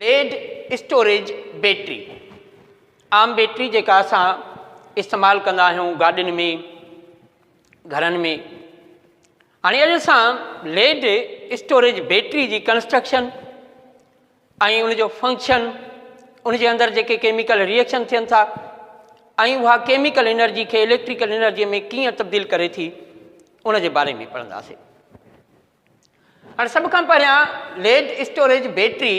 Lead storage battery عام battery جيڪا اسان استعمال ڪندا آهيون گاڏين ۾ گھرن ۾ هاڻي اڄ اسان ليڊ اسٽوريج بيٽري جي ڪنسٽرڪشن ۽ ان جو فنڪشن ان جي اندر جيڪي ڪيميڪل ريئيڪشن ٿين ٿا ۽ اها ڪيميڪل انرجي کي اليڪٽريڪل انرجي ۾ ڪيئن تبديل ڪري ٿي ان جي باري ۾ پڙهنداسين هاڻي سڀ کان پهريان ليڊ اسٽوريج بيٽري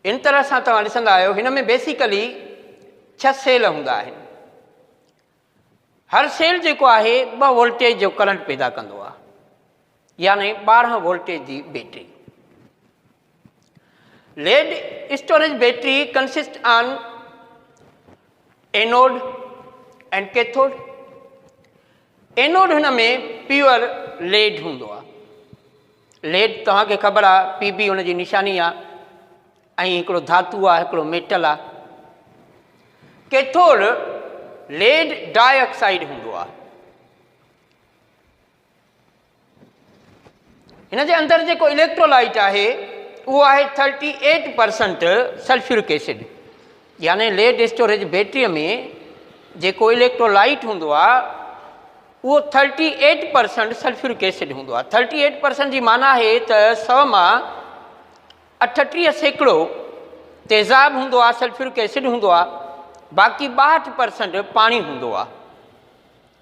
ان طرح سان توهان ڏسندا آهيو هن ۾ بيسيڪلي ڇهه سيل هوندا آهن هر سيل جيڪو آهي ٻه وولٽيج جو ڪرنٽ پيدا ڪندو آهي يعني ٻارهن وولٽيج جي battery lead storage battery consist on anode and cathode anode هن ۾ پيور ليڊ هوندو آ ليڊ توهان کي خبر آ پي بي هن جي نشاني آ ۽ هڪڙو ڌاتو آ هڪڙو ميٽل آ ڪيٿوڊ ليڊ ڊاء آڪسائيڊ هوندو آ هن جي اندر جيڪو اليڪٽرولائٽ آهي اهو آهي thirty eight percent sulphuric acid يعني ليڊ اسٽوريج بيٽريء ۾ جيڪو اليڪٽرولائٽ هوندو آ اهو thirty eight percent sulphuric acid هوندو آ ٿرٽي ايٽ پرسنٽ جي معنی آهي ته سو مان اٺٽيهه سيڪڙو تيزاب هوندو آ سلفيورڪ ايسڊ هوندو آ باقي ٻاهٺ پرسنٽ پاڻي هوندو آ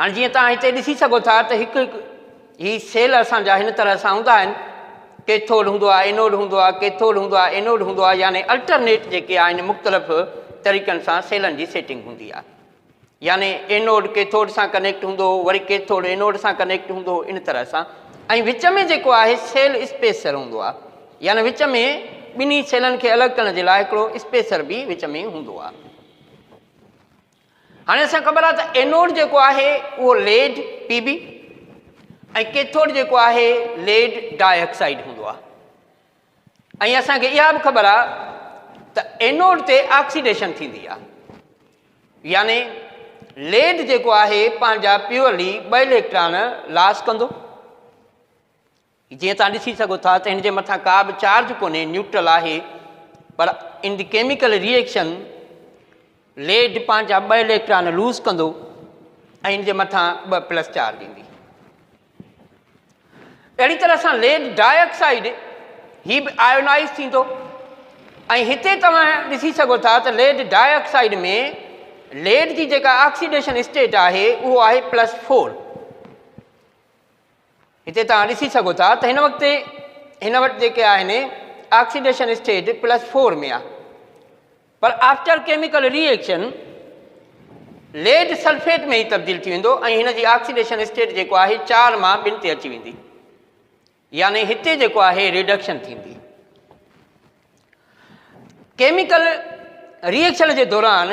هاڻي جيئن توهان هتي ڏسي سگهو ٿا ته هڪ هڪ هي سيل اسان جا هن طرح سان هوندا آهن ڪيٿوڊ هوندو آهي اينوڊ هوندو آهي ڪيٿوڊ هوندو آهي اينوڊ هوندو آهي يعني الٽرنيٽ جيڪي آهن مختلف طريقن سان سيلن جي سيٽنگ هوندي آهي يعني اينوڊ ڪيٿوڊ سان ڪنيڪٽ هوندو وري ڪيٿوڊ اينوڊ سان ڪنيڪٽ هوندو ان طرح سان ۽ وچ ۾ جيڪو آهي سيل اسپيسر هوندو آهي يعني وچ ۾ ٻنهي سيلن کي الڳ ڪرڻ جي لاء هڪڙو اسپيسر به وچ ۾ هوندو آهي هاڻي اسان خبر آهي ته اينوڊ جيڪو آهي اهو ليڊ پي بي ۽ ڪيٿوڊ جيڪو آهي ليڊ ڊاء آڪسائيڊ هوندو آهي ۽ اسانکي اها به خبر آهي ته اينوڊ تي آڪسيڊيشن ٿيندي آهي يعني ليڊ جيڪو آهي پنهنجا پيورلي ٻه اليڪٽران لاس ڪندو جيئن توهان ڏسي سگهو ٿا ته هن جي مٿان ڪا به چارج ڪونهي، نيوٽرل آهي، پر in the chemical reaction lead پنهنجا ٻه اليڪٽران لوز ڪندو ۽ ان جي مٿان ٻه پلس چارج ايندي. اهڙي طرح سان ليڊ ڊاء آڪسائيڊ هي به آيونائز ٿيندو ۽ هتي توهان ڏسي سگهو ٿا ته ليڊ ڊاء آڪسائيڊ ۾ ليڊ جي جيڪا آڪسيڊيشن اسٽيٽ آهي اهو آهي پلس فور. هتي توهان ڏسي سگهو ٿا ته هن وقت هن وٽ جيڪي آهن آڪسيڊيشن اسٽيج پلس فور ۾ آهي پر after chemical reaction lead sulphate ۾ ئي تبديل ٿي ويندو ۽ هن جي آڪسيڊيشن اسٽيج جيڪو آهي چار مان ٻن تي اچي ويندي يعني هتي جيڪو آهي ريڊڪشن ٿيندي ڪيميڪل ري ايڪشن جي دوران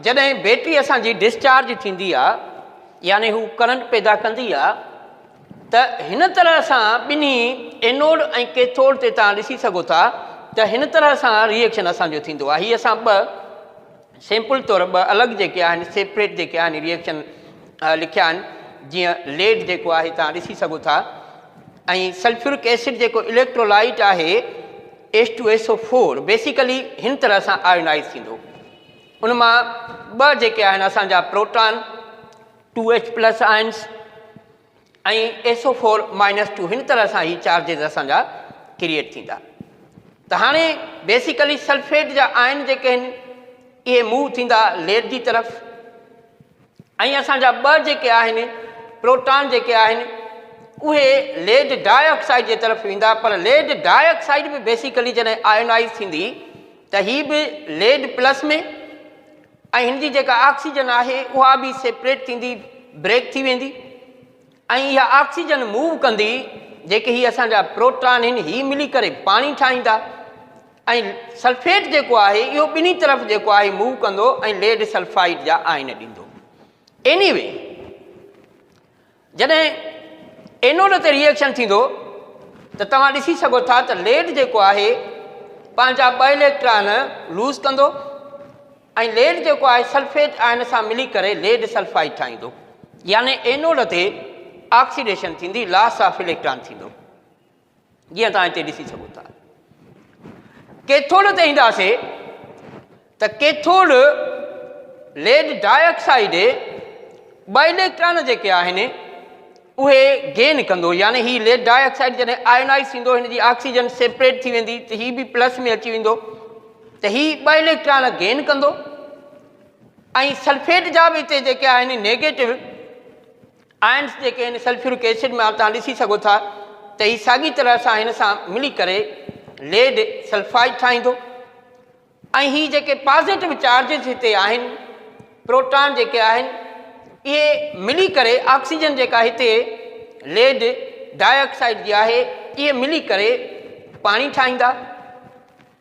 جڏهن بيٽري اسان جي ڊسچارج ٿيندي آ يعني هو ڪرنٽ پيدا ڪندي آ ته هن طرح سان ٻنهي اينوڊ ۽ ڪيٿوڊ تي تان ڏسي سگهو ٿا ته هن طرح سان ري ايڪشن اسان جو ٿيندو آ هي اسان ٻه سيمپل طور ٻه الڳ جيڪي آهن سيپريٽ جيڪي آهن ريئڪشن لکيا آهن جيئن ليڊ جيڪو آهي تان ڏسي سگهو ٿا ۽ سلفيورڪ ايسڊ جيڪو اليڪٽرولائيٽ آهي S two S O four basically هن طرح سان آيونائز ٿيندو ان مان ٻه جيڪي آهن اسانجا proton two H plus ions ۽ S O four minus two هن طرح سان هي چارجز اسان جا ڪريئيٽ ٿيندا ته هاڻي بيسيڪلي سلفيٽ جا آئن جيڪي آهن اهي موو ٿيندا ليڊ جي طرف ۽ اسان جا ٻه جيڪي آهن پروٽان جيڪي آهن اهي ليڊ ڊاء آڪسائيڊ جي طرف ويندا پر ليڊ ڊاء آڪسائيڊ به بيسيڪلي جڏهن آئنائز ٿيندي ته هي به ليڊ پلس ۾ ۽ هن جي جيڪا آڪسيجن آهي اها به سيپريٽ ٿيندي بريڪ ٿي ويندي ۽ اها آڪسيجن موو ڪندي جيڪي هي اسان جا پروٽان آهن هي ملي ڪري پاڻي ٺاهيندا ۽ سلفيٽ جيڪو آهي اهو ٻنهي طرف جيڪو آهي موو ڪندو ۽ ليڊ سلفائيڊ جا آئن ڏيندو ايني وي جڏهن اينوڊ تي ريئيڪشن ٿيندو ته توهان ڏسي سگهو ٿا ته ليڊ جيڪو آهي پنهنجا ٻه اليڪٽران لوز ڪندو ۽ ليڊ جيڪو آهي سلفيٽ آئن سان ملي ڪري ليڊ سلفائيڊ ٺاهيندو يعني اينوڊ تي آڪسيڊيشن ٿيندي لاس آف اليڪٽران ٿيندو جيئن توهان هتي ڏسي سگهو ٿا ڪيٿوڊ تي اينداسي ته ڪيٿوڊ ليڊ ڊاء آڪسائيڊ ٻه اليڪٽران جيڪي آهن اهي گين ڪندو يعني هي ليڊ ڊاء آڪسائيڊ جڏهن آئنائز ٿيندو هن جي آڪسيجن سيپريٽ ٿي ويندي ته هي به پلس ۾ اچي ويندو ته هي ٻه اليڪٽران گين ڪندو ۽ سلفيٽ جا به هتي جيڪي آهن نيگيٽو آئنز جيڪي هن سلفيورڪ ايسڊ مان توهان ڏسي سگهو ٿا ته هي ساڳي طرح سان هن سان ملي ڪري ليڊ سلفائيڊ ٺاهيندو ۽ هي جيڪي پازيٽو چارجز هتي آهن پروٽان جيڪي آهن اهي ملي ڪري آڪسيجن جيڪا هتي ليڊ ڊاء آڪسائيڊ جي آهي اهي ملي ڪري پاڻي ٺاهيندا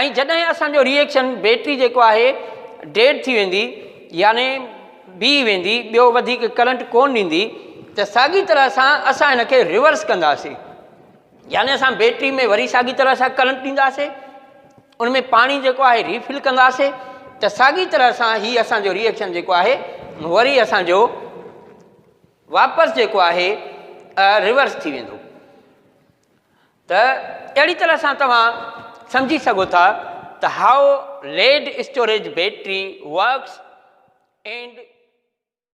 ۽ جڏهن اسان جو ريئيڪشن بيٽري جيڪو آهي ڊيڊ ٿي ويندي يعني بيهي ويندي ٻيو وڌيڪ ڪرنٽ ڪون ڏيندي ته ساڳي طرح سان اسان هن کي ريورس ڪنداسين يعني اسان بيٽري ۾ وري ساڳي طرح سان ڪرنٽ ڏينداسين ان ۾ پاڻي جيڪو آهي ريفل ڪنداسين ته ساڳي طرح سان هي اسان جو ريئيڪشن جيڪو آهي وري اسان جو واپس جيڪو آهي ريورس ٿي ويندو ته اهڙي طرح سان توهان سمجهي سگهو ٿا ته how lead storage battery works and.